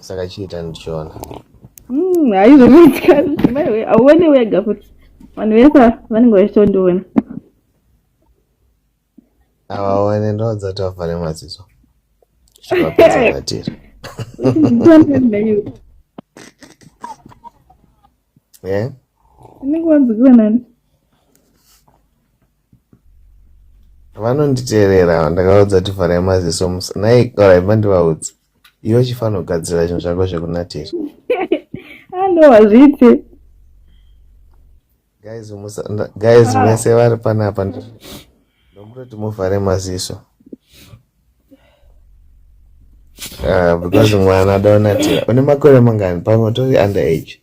saka chiita ndichiona hmm, haizvomaitika auone wega futi vanhu vese vanenge vachitondiona avaone ndodza tavhare maziso zvivapedzavatira unenge wanzikira nani vanonditerera ndakaudza kuti vharai maziso musa nai orai mandivaudzi iwe chifanogadzira zvinhu zvako zvekunatira ano hazviite guys musa guys ah. mese vari panapa ndomutoti muvhare maziso ah, because mwana adaonatira une makore mangani pamwe tori under age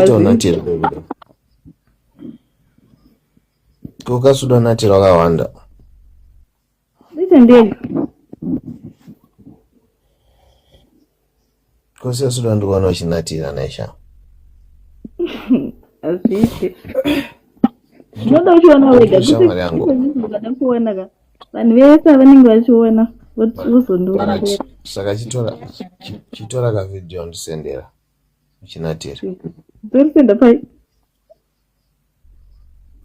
chitonatira kokasudonatira wakawanda kose suda ndikuona uchinatira naisha hazviite unoda uchiona wega kuona ka vanhu vese avanenge vachiona vozondiongera saka chitora chitora ka video ndisendera uchinatira ndorisenda pai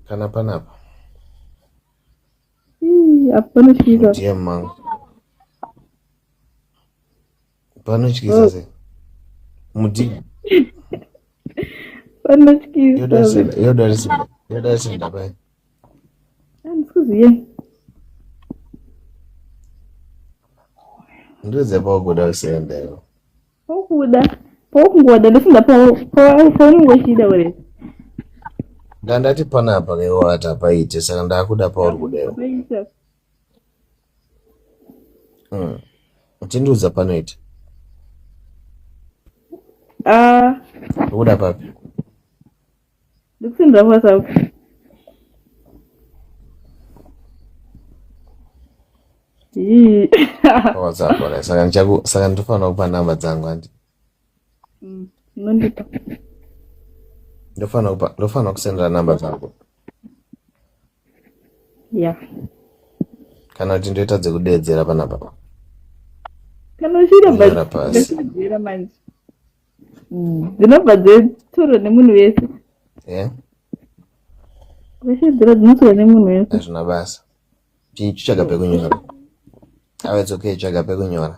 kana panapa apo panosvika dm mangu Panotyisa oh. se. Mudi. Panotyisa. Yoda senda, yoda senda, yoda senda pai. Andikuziye. Ndiweze paukuda kusenda iwo. Paukuda. Paukungoda ndofunga paunenge uchida uri. Ndandati panapa kaiwata paite saka ndakuda pauri kudewo. Mm. Uchindiudza panoita. Ah. Ukuda papi? Ndikusindira WhatsApp. WhatsApp wala saka ndichaku saka ndofanira kupa namba dzangu handi. Mm. Nondipa. Ndofanira kupa ndofanira kusendera namba dzangu. ya kana kuti ndoita dzekudeedzera panapa kana uchiitadeedzera manje mm. dzinobva dzetoro nemunhu wese zveshidzira dzinotora nemunhu wese hazvina basa chitsvaga pekunyora ave it's okay tsvaga pekunyora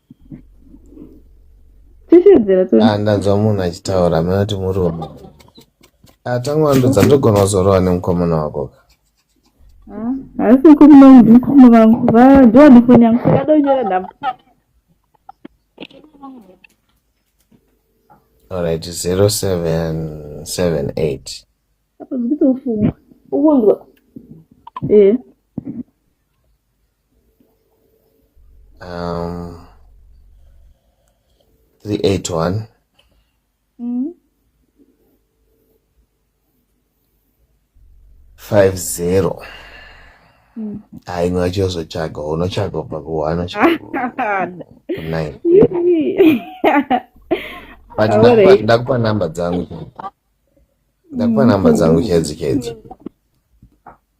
tichedzera to Ah, ndanzwa munhu achitaura amene kuti murume Ah, tangwandudza ndogona kuzorowa nemukomana wako ka Ah, haisi kumba mukoma vangu Va- ndiwa ndifoni yangu yakadonyora nhamba alright 0778 apa ndikutofunga ukunzwa eh um, 381 mm. 50 mm. hayi ngatsho uzotshaga unotshaga ubva kuhana nine but ndakupa number dzangu ndakupa number dzangu chedzi chedzi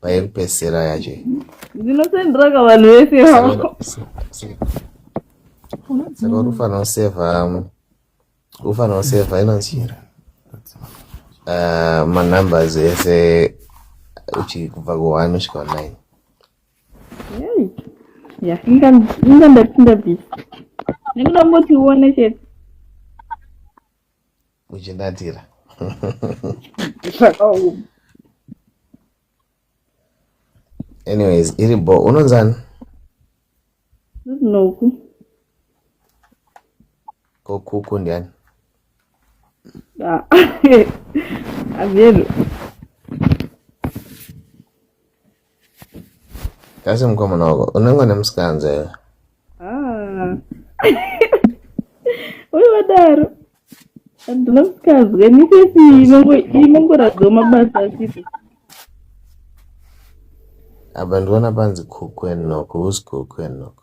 payekupesera yacho ndinosendraka vanhu vese saka uri ufanira kusevha ufanira kusevha inonzi eh, manumbers ese uchikubva ku1 kusvika 9 ya inga ndapinda bisi ndikuda ngotione chete uchinatira anyways iri bo unonzani noku kokuku ndiani avyeru ah, Asi mukomana wako unenge une musikanza iwe. Ah. Uye wadaro. Handina musikanzwa ini sesi inongoratidza mabasa asipo. Apa ndiona panzi kukwenoko, who's kukwenoko?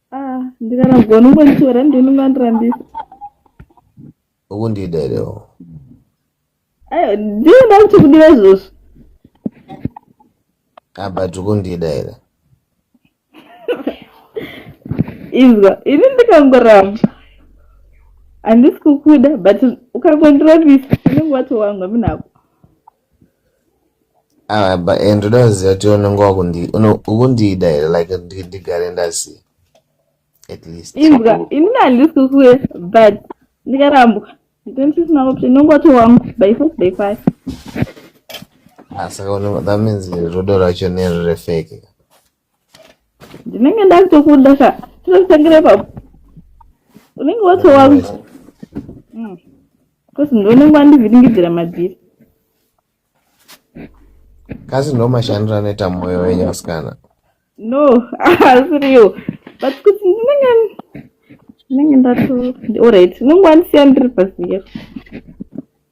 Ah, ndikarambwa unongonditora ndi unongondirambisa. Ukundida here? Ayo, ndiye ndakuti kudiwa izvozvo. Ah, but ukundida here? Izwa, ini ndikangoramba. Handisi kukuda, but ukangondirambisa unenge watowanga munako. Ah, but and ndoda kuziva kuti unenge wakundi- uno- ukundida here like ndi- ndigare ndaziva at least imbwa ini ndandisusuwe but ndikarambwa ndandisisina option ndongoti wangu by force by fire Ah, saka uno- that means rudo rwacho nero refake ndinenge ndakutokunda ka tinotangira ipapo unenge watowaku mm. bcause ndonenge wandivhiringidzira madhiri kasi ndo mashandiro anoita mwoyo wenyu asikana no asiriwo but kuti ndinenge ndinenge ndato orit unenge wandisiya ndiri paziyero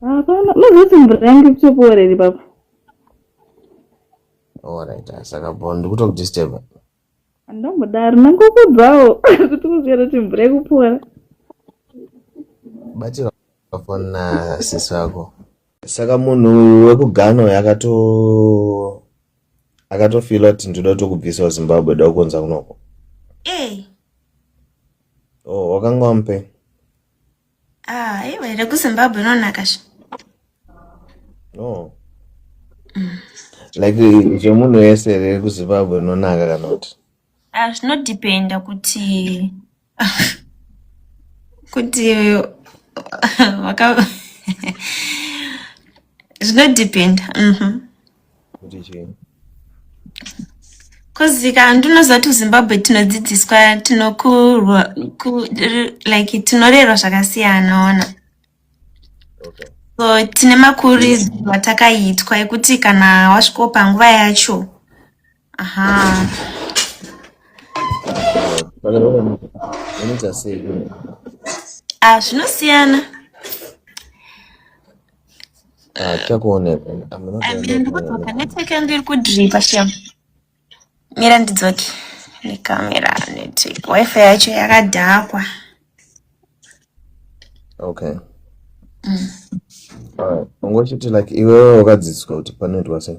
hapana unozoti mvura yange kutokuoreri papa orit oh, saka bo ndikutokudisturba andombodaro nangokubvawo kuti kuzvera kuti mvura yekupora batira foni na sisi vako saka munhu wekugano uyo akato akatofila kuti ndoda kutokubvisawo zimbabwe da kukonza kunoko e o oh, wakanga wamupei Ah, iwe iri kuZimbabwe inonaka sha. No. Mm. Like zvemunhu wese iri kuZimbabwe inonaka kana kuti. Ah, zvinodependa kuti kuti waka zvinodependa. Mhm. Mm kuti chii kozika handinoziva kuti muzimbabwe tinodzidziswa tinokurwa like tinorerwa zvakasiyana ona okay. so tine makuridzwa takaitwa ekuti kana wasvikopa nguva yacho Aha. Ah, zvinosiyana. Ah, chakuoneka. Amira ndikudzoka network yangu iri kudripa shem. Mira ndidzoke nekamera network. Wifi yacho yakadhakwa. Okay. Mm. All right. Ungochiti like iwewe wakadzidziswa kuti panoitwa sei?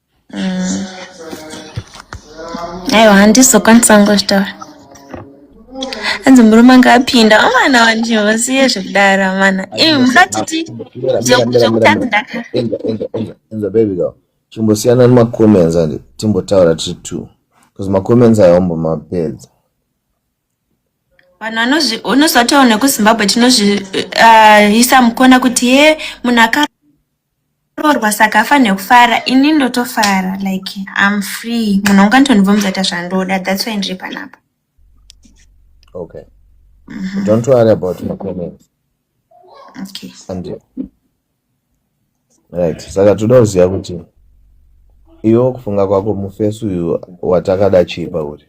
Mm. Aiwa handizokwanisa ngozvitaura. Hanzi murume anga apinda vamana vanzvimbo siye zvekudaro vamana. Imi musatiti zvekutadzi ndaka. Enza enza enza enza baby girl. Chimbosiyana nema comments and timbotaura tiri two. Because ma comments ayo ambomapedza. vanhu vanozvi unozotaura nekuzimbabwe tinozviisa uh, mukona kuti ye munhu akaroorwa saka afanire kufara ini ndotofara like am free munhu anganditonibvomudza ta zvandoda thats why ndiri panapa okay mm -hmm. don't worry about my comments okay and you right saka toda kuziva kuti iwe kufunga kwako mufesi uyu watakada chii pauri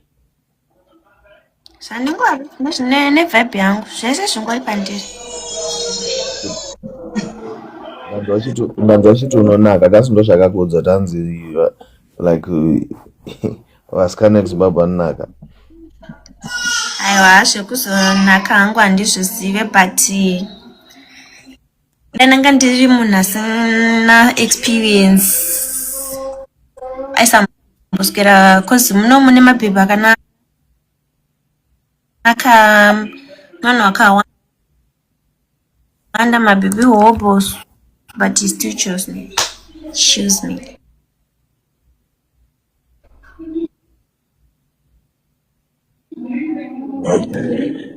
zvandingori nevibe yangu zvese zvingori pandiri ndanzwa chiti unonaka kasi ndo zvakakuudza tanzi like vasikana ekuzimbabwe anonaka aiwa zvekuzonaka hangu handizvizive but ndananga ndiri munhu asina experience aisamboswera bcause muno mune mabhebhi akanaka vanhu vakawanda mabhebhi hobos but he still chose me choose me Okay.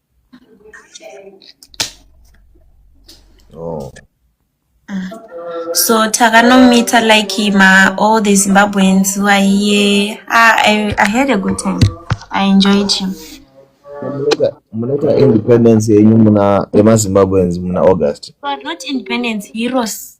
Oh. So Takanomita like him, uh, all the Zimbabweans who are here. Ah, I, I had a good time. I enjoyed him. munoita independence yenyu muna yemazimbabweans muna august but not independence heroes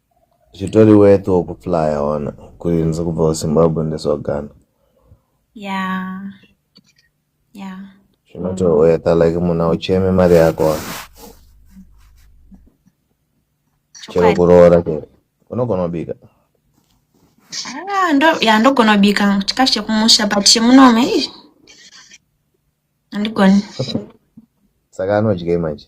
zvitori worth wokuflya ona kuinzi kubva kuzimbabwe ndeswagana yeah yeah zvinotohweta like munhu aucheme mari yako wa chero kuroora chero unogona kubika ah, ya ndogona kubika chikafu chekumusha but chemunome handigoni saka anodyei manje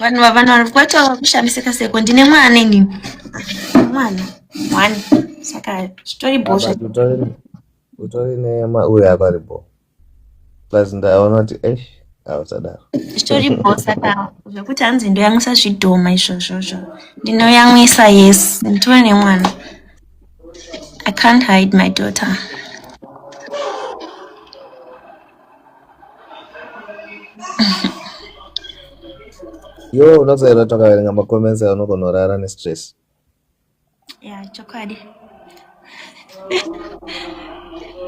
vanhu vavanhu vari kwacho vakushamisika seko ndine mwana ini mwana one saka zvitori bho zve- But utori utori nema uya pari bo. Plus ndaona kuti eish hausadaro. zvitori bho saka zvekuti hanzi ndoyamwisa zvidhoma izvozvozvo ndinoyamwisa yes nditori nemwana i can't hide my daughter yo unozoera takaverenga macomments ayo unogona kurara nestress ya chokwadi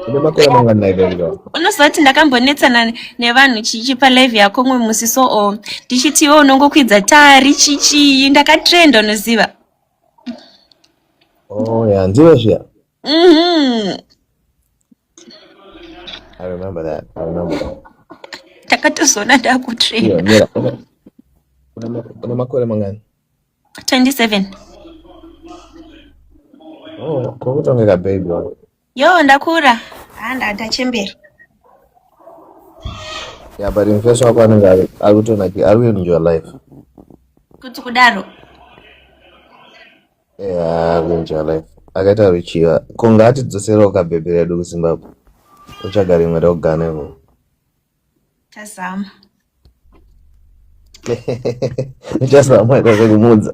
une makore mangani ivo unozoti ndakambonetsana nevanhu chichi palive yako umwe musi so o ndichiti iwe unongokwidza tari chichii ndakatrenda unoziva oh ya ndiwe zviya mhm. I remember that. I remember that. Takatozoona ndakutrain. Yeah, yeah. Una makore mangani? 27. Oh, kokutongeka baby wako. Yo, ndakura. Ah, ndachembera. Yeah, but in face wako anenge ari kutona ki ari in your life. Kuti kudaro. Yeah, kunja life. Akaita ruchiva. Ko ngaatidzoserawo kabhebhi redu kuZimbabwe. Otsvaga rimwe rogane ko. Tazama. Uchazama ita zvekumuudza.